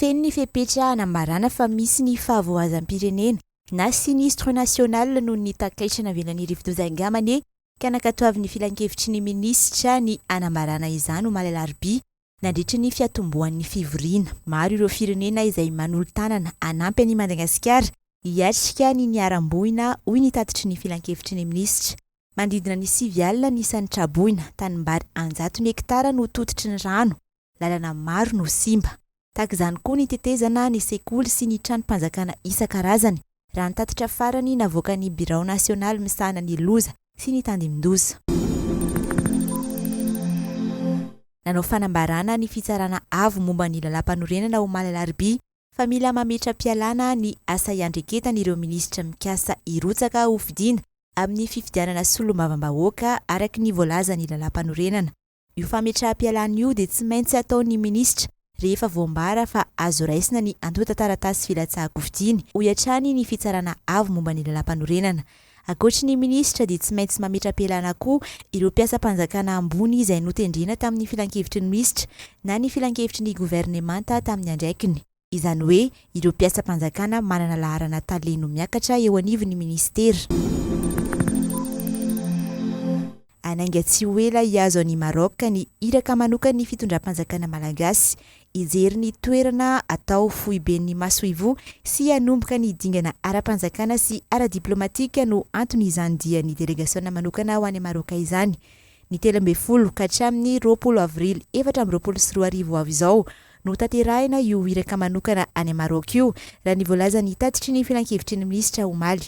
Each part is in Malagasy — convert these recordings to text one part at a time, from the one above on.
Feno ny fepetra hanambarana fa misy ny fahavoazam-pirenena na sinistre national noho ny takaitra navelan'ny rivodoza Ingamane ka nankatoavin'ny filankevitry ny minisitra ny hanambarana izany omaly alarobia nandritra ny fiatombohan'ny fivoriana. Maro ireo firenena izay manolo-tanana hanampy an'i Madagasikara hiatrika ny niharam-boina hoy ny tatitry ny filankevitry ny minisitra. Manodidina ny sivy alina ny isan'ny tra-boina, tanimbary an-jatony hektara no tototry ny rano. lalana maro no simba. Tahaka izany koa ny tetezana, ny sekoly sy ny tranom-panjakana isan-karazany, raha ny tatitra farany navoakan'ny birao nasionaly misahana ny loza sy ny tandindoza. Nanao fanambarana ny Fitsarana Avo momba ny Lalàmpanorenana omaly alarobia fa mila mametra-pialana ny asa iandreketany ireo minisitra mikasa hirotsaka hofidiana amin'ny fifidianana solombavambahoaka araka ny voalazan'ny Lalàmpanorenana. Io fametraham-pialana io dia tsy maintsy ataon'ny minisitra rehefa voambara fa azo raisina ny antontan-taratasy filatsahan-kofidiana, hoy hatrany ny Fitsarana Avo momba ny Lalàmpanorenana. Ankoatry ny minisitra dia tsy maintsy mametra-pialana koa ireo mpiasam-panjakana ambony izay notendrena tamin'ny filankevitry ny misitra na ny filankevitry ny governemanta tamin'ny andraikiny. izany hoe ireo mpiasam-panjakana manana laharana tale no miakatra eo anivon'ny minisitera. Hanainga tsy ho ela hihazo an'i Maroc ny iraka manokan'ny fitondram-panjakana malagasy, hijery ny toerana atao foiben'ny masoivoho sy hanomboka ny dingana ara-panjakana sy ara-diplaomatika no anton'izany dian'ny delegasiona manokana ho any Maroc izany. Ny telo ambin'ny folo ka hatramin'ny roapolo avrily efatra amby roapolo sy roa arivo ho avy izao no hotanterahina io iraka manokana any Maroc io, raha ny voalazan'ny tatitry ny filankevitry ny minisitra omaly.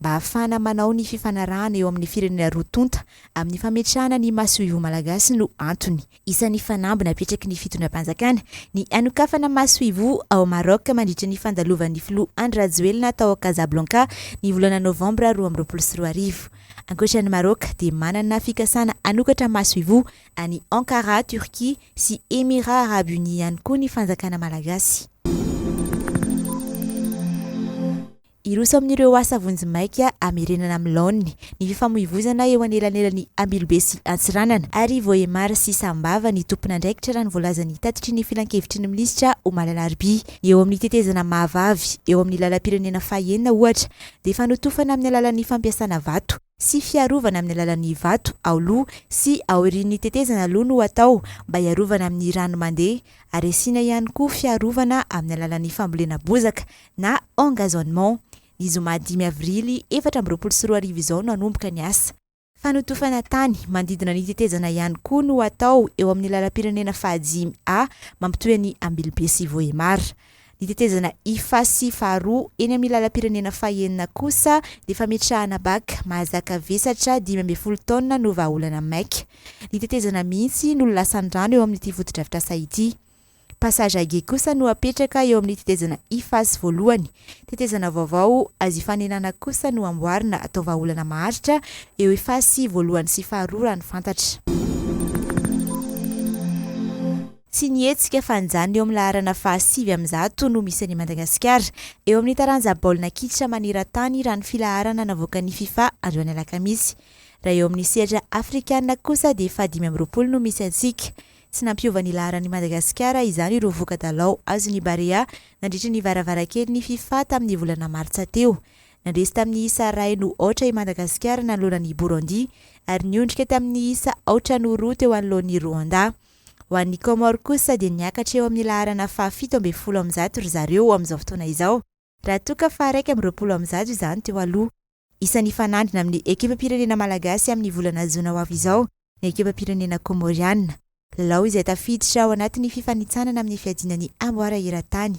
Mba hahafahana manao ny fifanarahana eo amin'ny firenena roa tonta amin'ny fametrahana ny masoivoho malagasy no antony. Isan'ny fanamby napetraky ny fitondram-panjakana ny hanokafana masoivoho ao Maroc mandritra ny fandalovan'ny filoha Andry Rajoelina tao Casablanca ny volana novambra roa amby roapolo sy roa arivo. Ankoatra an'i Maroc dia manana fikasana hanokatra masoivoho any Ankara, Turquie, sy Emirats Arabes Unis ihany koa ny fanjakana malagasy. Hiroso amin'ireo asa vonjimaika hamerenana amin'ny laoniny ny fifamoivozana eo anelanelan'i Ambilobe sy Antsiranana ary Vohemar sy Sambava ny tompon'andraikitra raha ny voalazan'ny tatitry ny Filankevitry ny Minisitra omaly alarobia. Ny eo amin'ny tetezana mahavavy eo amin'ny lalam-pirenena fahenina ohatra dia fanotofana amin'ny alalan'ny fampiasana vato sy fiarovana amin'ny alalan'ny vato ao loha sy aorian'ny tetezana loha no atao mba hiarovana amin'ny rano mandeha ary asiana ihany koa fiarovana amin'ny alalan'ny fambolena bozaka na engazonnement. Ny zoma dimy avrily efatra amby roapolo sy roa arivo izao no hanomboka ny asa. Fanotofana tany manodidina ny tetezana ihany koa no hatao eo amin'ny lalam-pirenena fahadimy A mampitohy an'i Ambilobe sy Vohemar. Ny tetezana ifa sy faharoa eny amin'ny lalam-pirenena fahenina kosa dia fametrahana bac mahazaka vesatra dimy ambin'ny folo taonina no vahaolana maika. Ny tetezana mihitsy no lasan-drano eo amin'ity fotodrafitrasa ity. Passage à Guy kosa no apetraka eo amin'ny tetezana Iface voalohany. Tetezana vaovao azo ifanenana kosa no amboarina atao vahaolana maharitra eo Iface voalohany sy faharoa raha ny fantatra. Tsy ny hetsika fanjanona eo amin'ny laharana fahasivy amin'ny zato no misy any Madagasikara eo amin'ny taranja baolina kitra maneran-tany raha ny filaharana navoakan'ny Fifa androany alakamisy. Raha eo amin'ny sehatra afrikana kosa dia fahadimy amby roapolo no misy antsika. Tsy nampiova ny laharan'i Madagasikara izany ireo voka-dalao azon'ny Barea nandritry ny varavarankelin'ny Fifa tamin'ny volana martsa teo. Nandresy tamin'ny isa iray no aotra i Madagasikara nanoloana an'i Burundi ary niondrika tamin'ny isa aotra no roa teo anoloan'i Rwanda. Ho an'ny Comores kosa dia niakatra eo amin'ny laharana fahafito ambin'ny folo amin'ny zato ry zareo amin'izao fotoana izao. Raha toa ka faha-iraika amby roapolo amby zato izany teo aloha. Isan'ny hifanandrina amin'ny ekipam-pirenena malagasy amin'ny volana jona ho avy izao ny ekipam-pirenena kômôriana. Lalao izay tafiditra ao anatin'ny fifanintsanana amin'ny fiadiana ny amboara eran-tany.